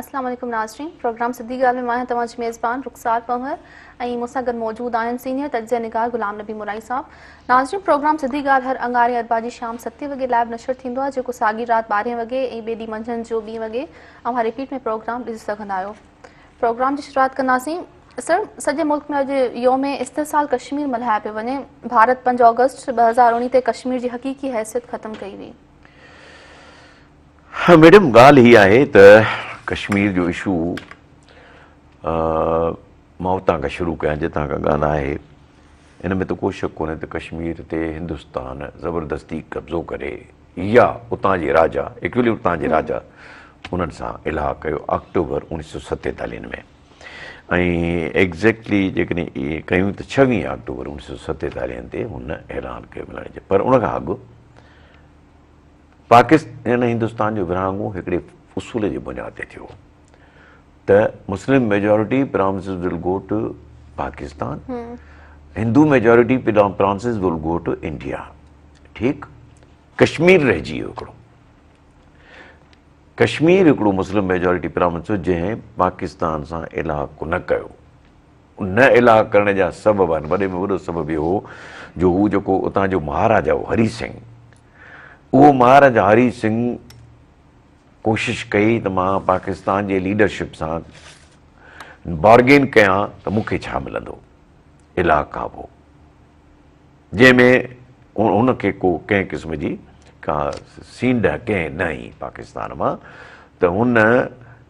السلام عليڪم ناظرين پروگرام سڌي ڳالهه ۾ مان آهيان توهان جي ميزبان رخسار پنهور ۽ مون سان گڏ موجود آهن سينيئر تجزيه نگار غلام نبي مورائي صاحب ناظرين پروگرام سڌي ڳالهه هر انگاري اربع جي شام ستي وڳي لائيو نشر ٿيندو آهي جيڪو ساڳي رات ٻارهين وڳي ۽ ٻئي ڏينهن منجهند جو ٻي وڳي اوهان رپيٽ ۾ پروگرام ڏسي سگهندا آهيو پروگرام جي شروعات ڪنداسين سر سڄي ملڪ ۾ اڄ يوم استحصال ڪشمير ملهايو پيو وڃي ڀارت پنج آگسٽ ٻه هزار اڻيهه تي ڪشمير جي حقيقي حيثيت ختم ڪئي وئي ها ميڊم ڳالهه هي آهي ته ڪشمير جو اشو مان اتان کان شروع ڪيان جتان کان ڳالهه آهي ان ۾ ته ڪو شڪ ڪونهي ته ڪشمير تي هندستان زبردستي قبضو ڪري يا اتان جي راجا ايڪچولي اتان جي راجا انهن سان الهاء ڪيو آڪٽوبر اوڻيهه سو ستيتاليهن ۾ ۽ ايگزيڪٽلي جيڪڏهن اهي ڪيون ته ڇويهه آڪٽوبر اوڻيهه سو ستيتاليهن تي هن اعلان ڪيو ملڻ جي پر ان کان اڳ پاڪستان هندستان جو ورهاڱو هڪڙي اصول جي بنياد تي ٿيو ته Muslim majority provinces will go to Pakistan Hindu majority provinces will go to India ٺيڪ ڪشمير رهجي ويو هڪڙو ڪشمير هڪڙو مسلم ميجارٽي پرانس جنهن پاڪستان سان الهاء ڪو نه ڪيو نه الهاء ڪرڻ جا سبب آهن وڏي ۾ وڏو سبب اهو هو جو هو جيڪو اتان جو مهاراجا هو هري سنگهه اهو مهاراجا هري سنگهه ڪوشش ڪئي ته مان پاڪستان جي ليڊرشپ سان بارگين ڪيان ته مون کي ڇا ملندو الاء ڪابو جنهن ۾ هن کي ڪو ڪنهن قسم جي ڪا سينڊ ڪنهن نه هئي پاڪستان مان ته هن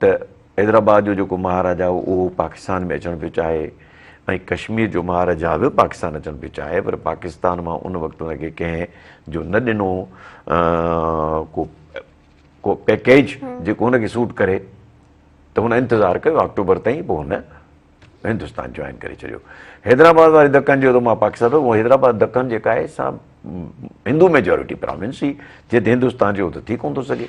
ته حيدرآباد جو جيڪو مهاراجا هو اهو پاڪستان ۾ اچڻ پيو چاهي ۽ ڪشمير جو مهاراجا به پاڪستان اچڻ پيو چاهي پر پاڪستان مان ان وقت ان کي ڪنهن جو نه ڏنو ڪو ڪو پيڪيج جيڪو ان کي سوٽ ڪري ته هن انتظار ڪيو آڪٽوبر تائين پوء هن هندوستان جوائن ڪري ڇڏيو حيدرآباد واري دکن جو ته ماں پاڪستان اهو حيدرآباد دکن جيڪا آهي سا هندو ميجورٽي پراونس هي جي ته هندوستان جو ته ٿي ڪونه ٿو سگهي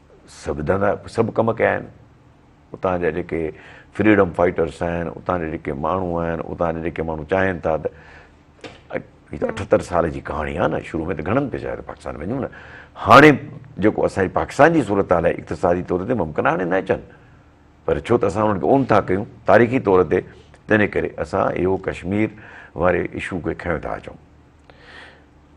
سڀ ڌنڌا سڀ ڪم ڪيا آهن اتان جا جيڪي فريڊم فائيٽرس آهن اتان جا جيڪي ماڻهو آهن اتان جا جيڪي ماڻهو چاهين ٿا ته اٺهتر سال جي ڪهاڻي آهي نه شروع ۾ ته گهڻن پئسا آهي پاڪستان وڃون نه هاڻي جيڪو اسان جي پاڪستان جي صورت حال آهي اقتصادي طور تي ممڪن هاڻي نه اچن پر ڇو ته اسان انهن کي اون ٿا ڪيون تاريخي طور تي تنهن ڪري اسان اهو ڪشمير واري اشو کي کنيو ٿا اچون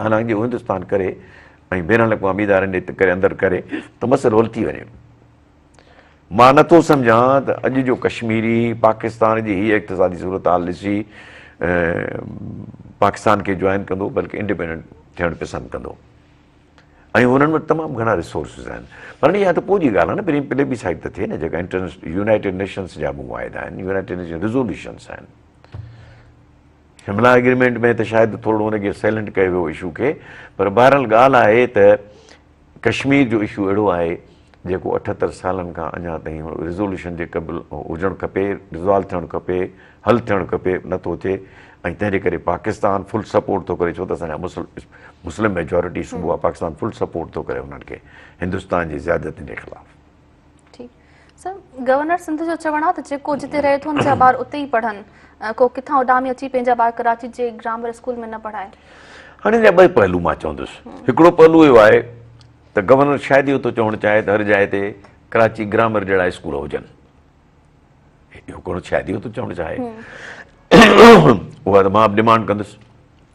حالانڪ جي هو هندستان ڪري ۽ بين الاقوامي ادارن جي ڪري اندر ڪري ته مسئلو حل ٿي وڃي مان نٿو سمجهان ته اڄ جو ڪشميري پاڪستان جي هي اقتصادي صورتحال ڏسي پاڪستان کي جوائن ڪندو بلڪه انڊيپينڊنٽ ٿيڻ پسند ڪندو ۽ هنن وٽ تمام گهڻا ريسورسز آهن پر اها ته پوء جي ڳالهه آهي نه پلي پلي بي سائيڊ ته ٿئي نه جيڪا انٽرنيشنل يونائيٽيڊ نيشنس جا معاهدا آهن يونائيٽيڊ نيشن ريزولوشنس آهن شملا ايگريمينٽ ۾ ته شايد ٿورڙو ان کي سيلنٽ ڪيو ويو اشو کي پر بهرحال ڳالهه آهي ته ڪشمير جو اشو اهڙو آهي جيڪو اٺهتر سالن کان اڃا تائين ريزولوشن جي قبل هجڻ کپي ريزالو ٿيڻ کپي حل ٿيڻ کپي نٿو ٿئي ۽ تنهن جي ڪري پاڪستان فل سپورٽ ٿو ڪري ڇو ته اسان جا مسلم ميجورٽي صوبو آهي پاڪستان فل سپورٽ ٿو ڪري انهن کي هندستان جي زيادتين جي خلاف ٺيڪ گورنر سنڌ جو چوڻ آهي ته جيڪو جتي رهي ٿو ان جا ٻار اتي ئي پڙهن، ڪو ڪٿان اڏامي اچي پنهنجا ٻار ڪراچي جي گرامر اسڪول ۾ نه پڙهائي. هاڻي ان جا ٻئي پهلو مان چوندس، هڪڙو پهلو اهو آهي ته گورنر شايد اهو ٿو چوڻ چاهي ته هر جاء تي ڪراچي گرامر جهڙا اسڪول هجن، اهو گورنر شايد اهو ٿو چوڻ چاهي، اها ته مان به ڊمانڊ ڪندس،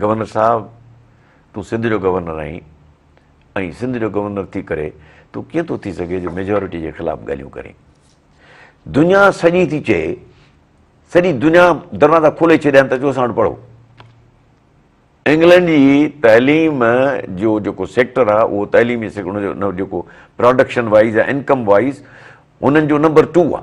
گورنر صاحب تون سنڌ جو گورنر آهين ۽ سنڌ جو گورنر ٿي ڪري تون ڪيئن ٿو ٿي سگهي جو ميجورٽي جي خلاف ڳالهيون ڪرين دنيا سڄي ٿي چئي سڄي دنيا دروازا کولي ڇڏيا آهن ته اچو اسان وٽ پڙهو انگلنڊ جي تعليم جو جيڪو سيڪٽر آهي اهو تعليمي سيڪٽر جو جيڪو پروڊڪشن وائز يا انڪم وائز انهن جو نمبر ٽو آهي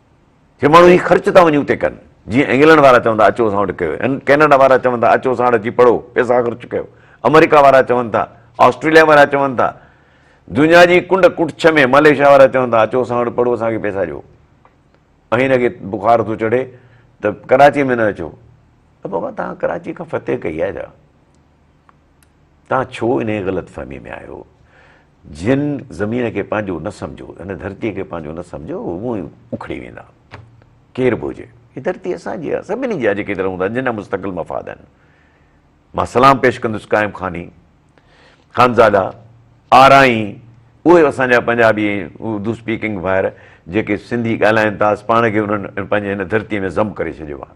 جي ماڻهو هي خرچ ٿا وڃي اتي ڪن، جيئن انگلنڊ وارا چون ٿا اچو اسان وٽ ڪيو، ڪينيڊا وارا چون ٿا اچو اسان وٽ اچي پڙهو، پئسا خرچ ڪيو، آمريڪا وارا چون ٿا، آسٽريليا وارا چون ٿا، دنيا جي ڪنڊ ڪڙڇ ۾ ملائيشيا وارا چون ٿا اچو اسان وٽ پڙهو اسان کي پئسا ڏيو. ۽ هن کي بخار ٿو چڙهي ته ڪراچي ۾ نه اچو. ته بابا توهان ڪراچي کان فتح ڪئي آهي ڇا؟ توهان ڇو انهيء غلط فهمي ۾ آهيو؟ جن زمين کي پنهنجو نه سمجهيو، هن ڌرتيء کي پنهنجو نه سمجهيو، اهي اونئين اکڙي ويندا. ڪير به هجي. هي ڌرتي اسان جي آهي. سڀني جي آهي جيڪي هتي رهون ٿا، جن جا مستقل مفاد آهن. مان سلام پيش ڪندس قائم خاني، خانزادا، آرائين، اهي اسان جا پنجابي ۽ اردو اسپيڪنگ ڀائر جيڪي سنڌي ڳالهائين ٿا، پاڻ کي انهن پنهنجي هن ڌرتيء ۾ ضم ڪري ڇڏيو آهي.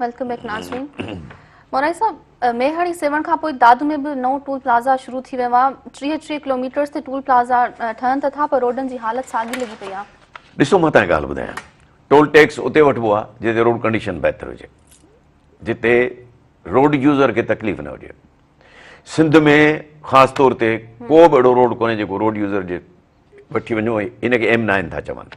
ويلڪم بيڪ ناظرين مورائي صاحب ميهڙي سيوهڻ کان پوء دادو ۾ به نئون ٽول پلازا شروع ٿي ويو آهي ٽيهه ٽيهه ڪلوميٽرز تي ٽول پلازا ٺهن ته ٿا پر روڊن جي حالت ساڳي لڳي پئي آهي ڏسو مان تان ڳالهه ٻڌايان ٽول ٽيڪس اتي وٺبو آهي جتي روڊ ڪنڊيشن بهتر هجي جتي روڊ يوزر کي تڪليف نه هجي سنڌ ۾ خاص طور تي کو به اهڙو روڊ کوني جيڪو روڊ يوزر جي وٺي وڃو ان کي ايم نائن ٿا چون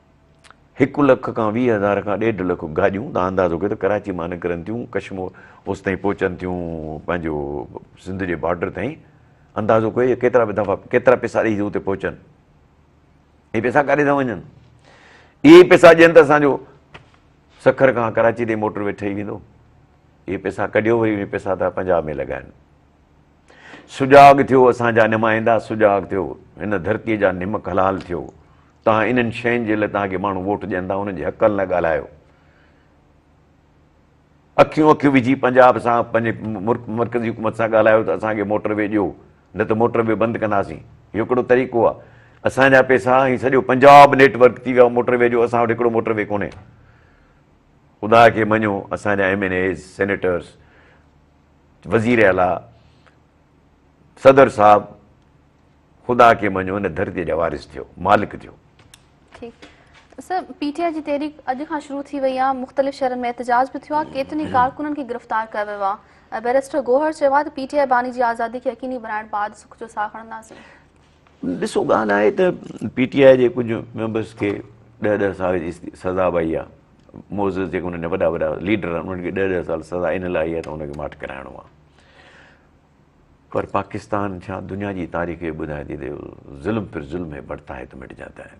هڪ لک کان ويهه هزار کان ڏيڍ لک گاڏيون تان اندازو ڪيو ته ڪراچي مان نڪرن ٿيون ڪشمور اوس تائين پهچن ٿيون پنهنجو سنڌ جي بارڊر تائين اندازو ڪيو ڪيترا به دفعا ڪيترا پيسا ڏئي اتي پهچن اي پيسا ڪاڏي ٿا وڃن اي پيسا ڏين ته اسانجو سکر کان ڪراچي تائين موٽر وي ٺهي ويندو اي پيسا ڪڍيو وري پيسا ٿا پنجاب ۾ لڳائن سجاڳ ٿيو اسان جا نمائندا سجاڳ ٿيو هن ڌرتي جا نمڪ حلال ٿيو توهان انهن شين جي لاء توهان کي ماڻهو ووٽ ڏين ٿا انهن جي حقن لاء ڳالهايو اکيون اکيون وجهي پنجاب سان پنهنجي مرڪزي حڪومت سان ڳالهايو ته اسان کي موٽر وي ڏيو نه ته موٽر وي بند ڪنداسين اهو ڪهڙو طريقو آهي اسان جا پيسا هي سڄو پنجاب نيٽ ورڪ ٿي ويو موٽر وي جو اسان وٽ هڪڙو موٽر وي ڪونهي خدا کي مڃو اسان جا ايم اين ايز سينيٽرس وزير اعليٰ، صدر صاحب خدا کي مڃو هن ڌرتي جا وارث ٿيو، مالڪ ٿيو. ٺيڪ سر پي ٽي آء جي تحريڪ اڄ کان شروع ٿي وئي آهي مختلف شهرن ۾ احتجاج به ٿيو آهي ڪيترن ئي ڪارڪنن کي گرفتار ڪيو ويو آهي بيرسٽر گوهر چيو آهي ته پي ٽي آء باني جي آزادي کي يقيني بڻائڻ بعد سک جو ساهه کڻنداسين ڏسو ڳالهه آهي ته پي ٽي آء جي ڪجهه ميمبرس کي ڏهه ڏهه سال جي سزا به آئي آهي موزز جيڪي انهن جا وڏا وڏا ليڊر آهن انهن کي ڏهه ڏهه سال سزا ان لاء آئي آهي ته ان کي ماٺ ڪرائڻو آهي پر پاڪستان ڇا دنيا جي تاريخ ٻڌائي ٿي ته ظلم پر ظلم ۾ بڙتا هي ته مٽ جاتا هي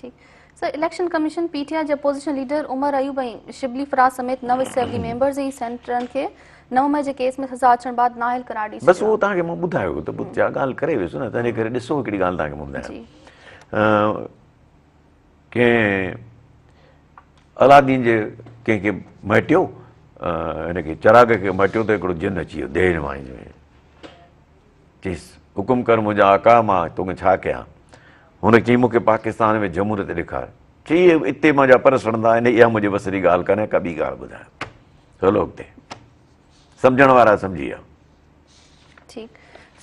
ٺيڪ sir election commission P T I جي اپوزيشن ليڊر عمر ايوب ۽ شبلي فراز سميت نو اسيمبلي ميمبرز ۽ سينيٽرن کي نو مئي جي ڪيس ۾ سزا اچڻ بعد نااهل قرار ڏئي ڇڏيو بس اهو توهان کي مون ٻڌايو ته جا ڳالهه ڪري ويس نه تنهنجي ڪري ڏسو هڪڙي ڳالهه توهان کي مون ٻڌايان ڪنهن علادين جي ڪنهن کي مهٽيو هن کي چراغ کي مهٽيو ته هڪڙو جن اچي ويو ديهه نمائي ۾ چيس، حڪم ڪر منهنجا آقا مان توکي ڇا ڪيان؟ هن چيائين، مون کي پاڪستان ۾ جمهوريت ڏيکار. چي اهي اتي منهنجا پر سڙندا آهن، اها منهنجي وس جي ڳالهه ڪانهي ڪا ٻي ڳالهه ٻڌايان. هلو اڳتي. سمجهڻ وارا سمجهي ويا. ٺيڪ.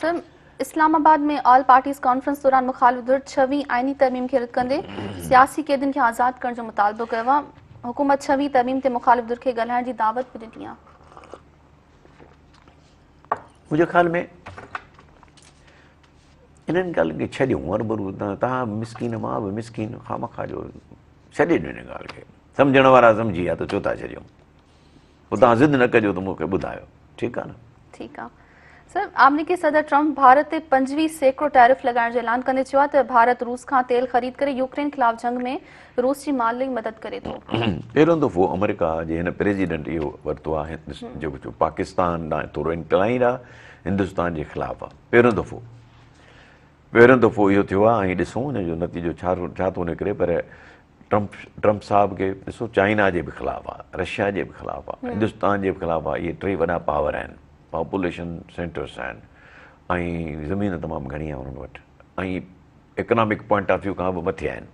Sir, Islamabad ۾ all parties conference دوران مخالف ڌر ڇهوين آئيني ترميم کي رد ڪندي سياسي قيدين کي آزاد ڪرڻ جو مطالبو ڪيو آهي، حڪومت ڇهوين ترميم تي مخالف ڌر کي ڳالهائڻ جي دعوت به ڏني آهي. منهنجي خيال ۾ انهن ڳالهين کي ڇڏيون هرڀرو تهان به مسڪين مان به مسڪين خامخواه جو ڇڏي ڏيو ان ڳالهه کي سمجهڻ وارا سمجهي ها ته ڇو ٿا ڇڏيون پوء تهان ضد نه ڪجو ته مون کي ٻڌايو ٺيڪ آهي نه ٺيڪ آهي سر آمريڪي صدر ٽرمپ ڀارت تي پنجويهه سيڪڙو ٽيرف لڳائڻ جو اعلان ڪندي چيو آهي ته ڀارت روس کان تيل خريد ڪري يوڪرين خلاف جنگ ۾ روس جي مال لئي مدد ڪري ٿو. پهريون دفعو آمريڪا جي هن پريزيڊنٽ اهو ورتو آهي جو پاڪستان ڏانهن ٿورو انڪلائنڊ آهي هندستان جي خلاف آهي پهريون دفعو پهريون دفعو اهو ٿيو آهي ۽ ڏسون ان جو نتيجو ڇا ڇا ٿو نڪري پر ٽرمپ ٽرمپ صاحب کي ڏسو چائنا جي به خلاف آهي رشيا جي به خلاف آهي هندستان جي به خلاف آهي اهي ٽي وڏا پاور آهن پاپوليشن سينٽرس آهن ۽ زمين تمام گهڻي آهي انهن وٽ ۽ اڪنامڪ پوائنٽ آف ويو کان به مٿي آهن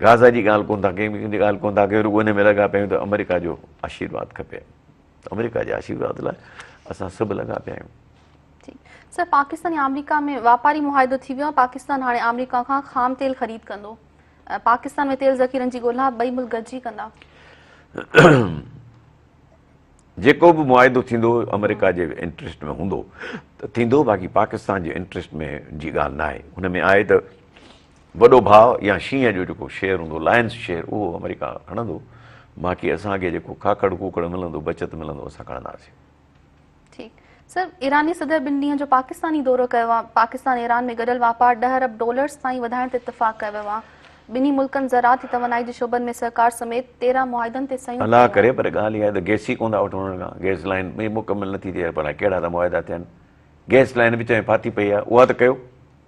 غازا جي ڳالهه ڪونه ٿا ڪيون، ڪنهن جي ڳالهه ڪونه ٿا ڪيون، رڳو ان ۾ لڳا پيا آهيون ته آمريڪا جو آشيرواد کپي، آمريڪا جي آشيرواد لاء اسان سڀ لڳا پيا آهيون. سر پاڪستان ۽ آمريڪا ۾ واپاري معاهدو ٿي ويو آهي، پاڪستان هاڻي آمريڪا کان خام تيل خريد ڪندو، پاڪستان ۾ تيل ذخيرن جي ڳولها ٻئي ملڪ گڏجي ڪندا. جيڪو به معاهدو ٿيندو آمريڪا جي انٽريسٽ ۾ هوندو ته ٿيندو، باقي پاڪستان جي انٽريسٽ ۾ جي ڳالهه ناهي، ان ۾ آهي ته وڏو ڀاء يا شينهن جو جيڪو شير هوندو، لائنز شير، اهو آمريڪا هڻندو، باقي اسان کي جيڪو ڪاڪڙ ڪوڪڙ ملندو، بچت ملندو، اسان کڻنداسين. ٺيڪ. سر، ايراني صدر ٻن ڏينهن جو پاڪستاني دورو ڪيو آهي، پاڪستان ايران ۾ گڏيل واپار ڏهه ارب ڊالرز تائين وڌائڻ تي اتفاق ڪيو ويو آهي، ٻنهي ملڪن زراعت ۽ توانائي جي شعبن ۾ سهڪار سميت تيرهن معاهدن تي صحيحون ڪيون آهن. الله ڪري پر ڳالهه اها آهي ته گيس ئي ڪونه ٿا وٺون انهن کان، گيس لائين مڪمل نٿي ٿئي، اڄ ڀلا ڪهڙا ته معاهدا ٿيا آهن، گيس لائين وچ ۾ ڦاٿي پئي آهي، اها ته ڪيو.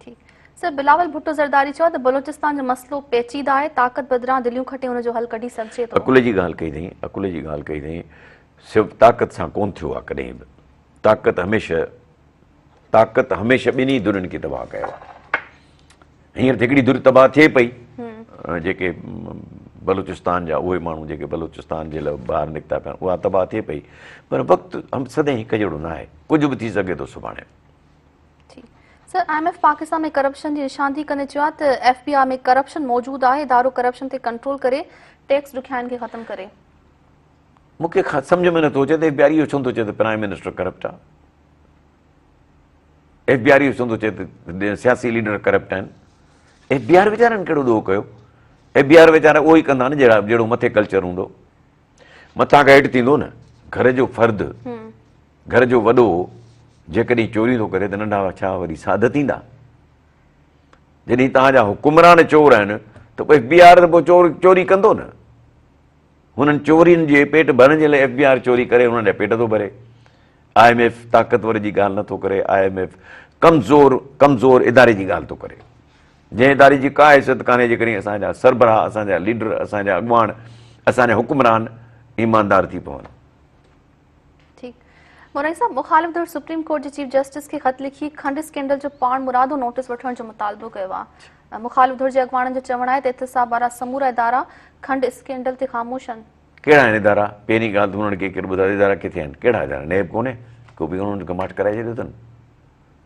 ٺيڪ سر بلاول ڀٽو زرداري چيو آهي ته بلوچستان جو مسئلو پيچيده آهي طاقت بدران دليون کٽي ان جو حل ڪڍي سگهجي ٿو. عقل جي ڳالهه ڪئي اٿئين عقل جي ڳالهه ڪئي اٿئين سب طاقت سان ڪون ٿيو آهي ڪڏهن به طاقت هميشه طاقت هميشه ٻنهي ڌرين کي تباهه ڪيو آهي هينئر ته هڪڙي ڌر تباهه ٿئي پئي جيڪي بلوچستان جا اهي ماڻهو جيڪي بلوچستان جي لاء ٻاهر نڪتا پيا اها تباهه ٿئي پئي پر وقت سدائين هڪ جهڙو ناهي ڪجهه به ٿي سگهي ٿو سڀاڻي جي سر I M F Pakistan ۾ corruption جي نشاندهي ڪندي چيو آهي ته ايف بي آء ۾ ڪرپشن موجود آهي ادارو ڪرپشن تي ڪنٽرول ڪري ٽيڪس ڏکيائين کي ختم ڪري مون کي سمجھ ۾ نٿو اچي ته ايف بي آر اهو ڇو نٿو چئي ته پرائم منسٽر ڪرپٽ آهي ايف بي آر اهو ڇو نٿو چئي ته سياسي ليڊر ڪرپٽ آهن ايف بي آر ويچارن ڪهڙو ڏوهه ڪيو ايف بي آر ويچارا اهو ئي ڪندا نه جهڙو مٿي ڪلچر هوندو مٿان کان هيٺ ٿيندو نه گهر جو فرد گهر جو وڏو جيڪڏهن چوري ٿو ڪري ته ننڍا ڇا وري ساڌ ٿيندا جڏهن تان جا حڪمران چور آهن ته ايف بي آر ته پوء چور چوري ڪندو نه هنن چورين جي پيٽ ڀرڻ جي لاء ايف بي آر چوري ڪري هنن جا پيٽ ٿو ڀري آء ايم ايف طاقتور جي ڳالهه نٿو ڪري آء ايم ايف ڪمزور ڪمزور اداري جي ڳالهه ٿو ڪري جنهن اداري جي ڪا حيثيت ڪانهي جيڪڏهن اسان جا سربراهه، اسان جا ليڊر، اسان جا اڳواڻ، اسان جا حڪمران ايماندار ٿي پون. ٺيڪ مورائي صاحب مخالف ڌر سپريم ڪورٽ جي چيف جسٽس کي خط لکي کنڊ اسڪينڊل جو پاڻ مرادو نوٽس وٺڻ جو مطالبو ڪيو آهي مخالف ڌر جي اڳواڻن جو چوڻ آهي ته احتساب وارا سمورا ادارا کنڊ اسڪينڊل تي خاموش آهن ڪهڙا آهن ادارا پهرين ڳالهه ته انهن کي ڪير ٻڌايو ادارا ڪٿي آهن ڪهڙا ادارا نيب ڪونهي ڪو به انهن کي ماٺ ڪرائي ڇڏيو اٿن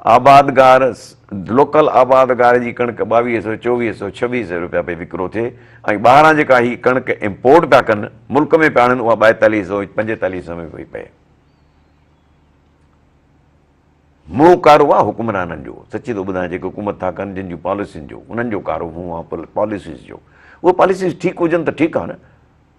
آبادگار، لوڪل آبادگار جي ڪڻڪ ٻاويهه سئو، چوويهه سئو، ڇويهه سئو رپيا پئي وڪرو ٿئي ۽ ٻاهران جيڪا هي ڪڻڪ امپورٽ پيا ڪن، ملڪ ۾ پيا آڻن اها ٻائيتاليهه سئو، پنجيتاليهه سئو ۾ پئي پئي. منهن ڪارو آ حڪمرانن جو، سچي ٿو ٻڌايان جيڪي حڪومت ٿا ڪن جن جون پاليسين جو انهن جو ڪارو منهن آ پاليسيز جو. اهي پاليسيز ٺيڪ هجن ته ٺيڪ آ نه.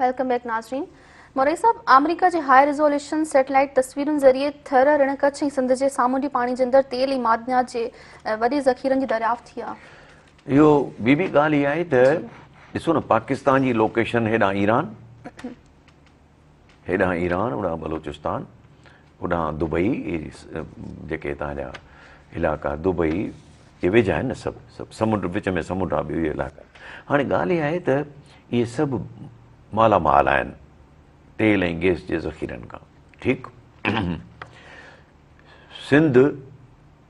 ويلڪم بيڪ ناظرين مورئي صاحب آمريڪا جي هاء ريزوليوشن سيٽلائيٽ تصويرن ذريعي ٿر رڻ ڪڇ ۽ سنڌ جي سامونڊي پاڻي جي اندر تيل ۽ معدنيات جي وڏي ذخيرن جي دريافت ٿي آهي اهو ٻي به ڳالهه اها آهي ته ڏسو نه پاڪستان جي لوڪيشن هيڏانهن ايران هيڏانهن ايران هوڏانهن بلوچستان اوڏانهن دبئي جيڪي هتان جا علائقا دبئي جي ويجها آهن نه سڀ سڀ سمنڊ وچ ۾ سمنڊ آهي ٻيو علائقا هاڻي ڳالهه اها آهي ته اهي سڀ مالا مال آهن تيل ۽ گيس جي ذخيرن کان ٺيڪ سنڌ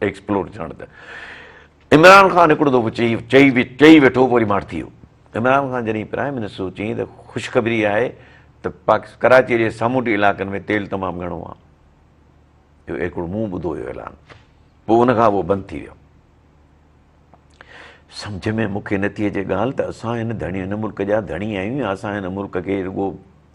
ايڪسپلور ٿيڻ ته عمران خان هڪڙو دفعو چئي چئي چئي ويٺو پوء وري ماٺ ٿي ويو عمران خان جڏهن پرائم منسٽر هو چيائين ته خوشخبري آهي ته پاڪس ڪراچي جي سامونڊي علائقن ۾ تيل تمام گهڻو آهي اهو هڪڙو مون ٻڌو هيو اعلان پوء ان کان اهو بند ٿي ويو سمجھ ۾ مون کي نٿي اچي ڳالهه ته اسان هن ڌڻي هن ملڪ جا ڌڻي آهيون يا اسان هن ملڪ کي رڳو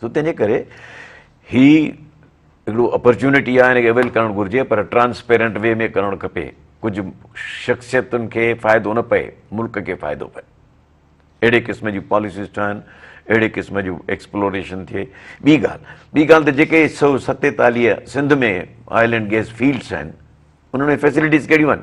سو تنهنجي ڪري هي هڪڙو اپرچونٽي آهي هن کي اويل ڪرڻ گهرجي پر ٽرانسپيرنٽ وي ۾ ڪرڻ کپي ڪجهه شخصيتن کي فائدو نه پئي ملڪ کي فائدو پئي اهڙي قسم جون پاليسيز ٺهن اهڙي قسم جون ايڪسپلوريشن ٿئي ٻي ڳالهه ٻي ڳالهه ته جيڪي سو ستيتاليهه Sindh ۾ oil and gas fields آهن انهن ۾ فيسلٽيز ڪهڙيون آهن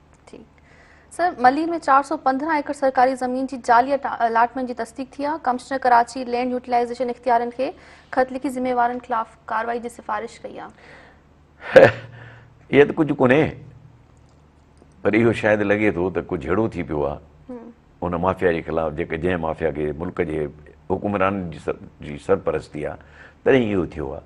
ٺيڪ سر ملير ۾ چار سو پندرهن ايڪڙ سرڪاري زمين جي جعلي الاٽمينٽ جي تصديق ٿي آهي ڪمشنر کراچي لينڊ يوٽيلائيزيشن اختيارين کي خط لکي ذميوارن خلاف ڪارروائي جي سفارش ڪئي آهي اهي ته ڪجهه ڪونهي پر اهو شايد لڳي ٿو ته ڪجهه اهڙو ٿي پيو آهي ان مافيا جي خلاف جيڪا جنهن مافيا کي ملڪ جي حڪمران جي سرپرستي آهي تڏهن اهو ٿيو آهي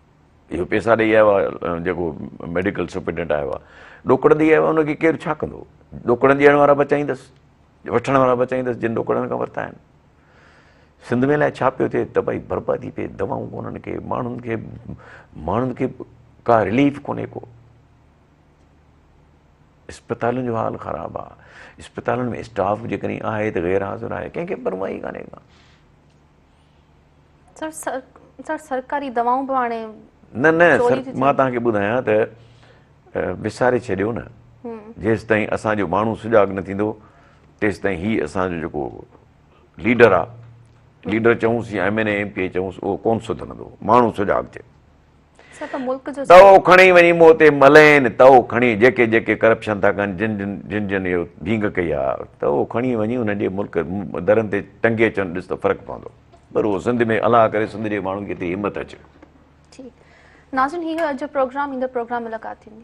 اهي پيسا ڏئي آيو آهي جيڪو ميڊيڪل سپرنٽينڊنٽ آيو آهي ڏوڪڙ ڏئي آيو آهي ان کي ڪير ڇا ڪندو ڏوڪڙ ڏيڻ وارا بچائيندس وٺڻ وارا بچائيندس جن ڏوڪڙن کان ورتا آهن سنڌ ۾ الائي ڇا پيو ٿئي تباهي بربادي پئي دواؤن ڪونهن کي ماڻهن کي ماڻهن کي ڪا رليف ڪونهي ڪو اسپتالن جو حال خراب آ اسپتالن ۾ اسٽاف جيڪڏهن آهي ته غير حاضر آهي ڪنهن کي پرواهي ڪانهي ڪا سر سرڪاري دوائون به هاڻي نه نه سر مان توهان کي ٻڌايان ته وساري ڇڏيو نه جيستائين اسان جو ماڻهو سجاڳ نه ٿيندو تيستائين هي اسان جو جيڪو ليڊر آ ليڊر چئونس يا M N A M P A چئونس اهو ڪون سڌرندو ماڻهو سجاڳ ٿئي تئو کڻي وڃي مون تي ملين، تئو کڻي جيڪي جيڪي ڪرپشن ٿا ڪن، جن جن جن جن اهو ڀينگ ڪئي آ، تئو کڻي وڃي انهن جي ملڪ درن تي ٽنگي اچن ڏس ته فرق پوندو. پر اهو سنڌ ۾ الله ڪري سنڌ جي ماڻهن کي ايتري همت اچي. ٺيڪ ناظرين هي هو اڄ جو پروگرام ايندڙ پروگرام ملاقات ٿيندي.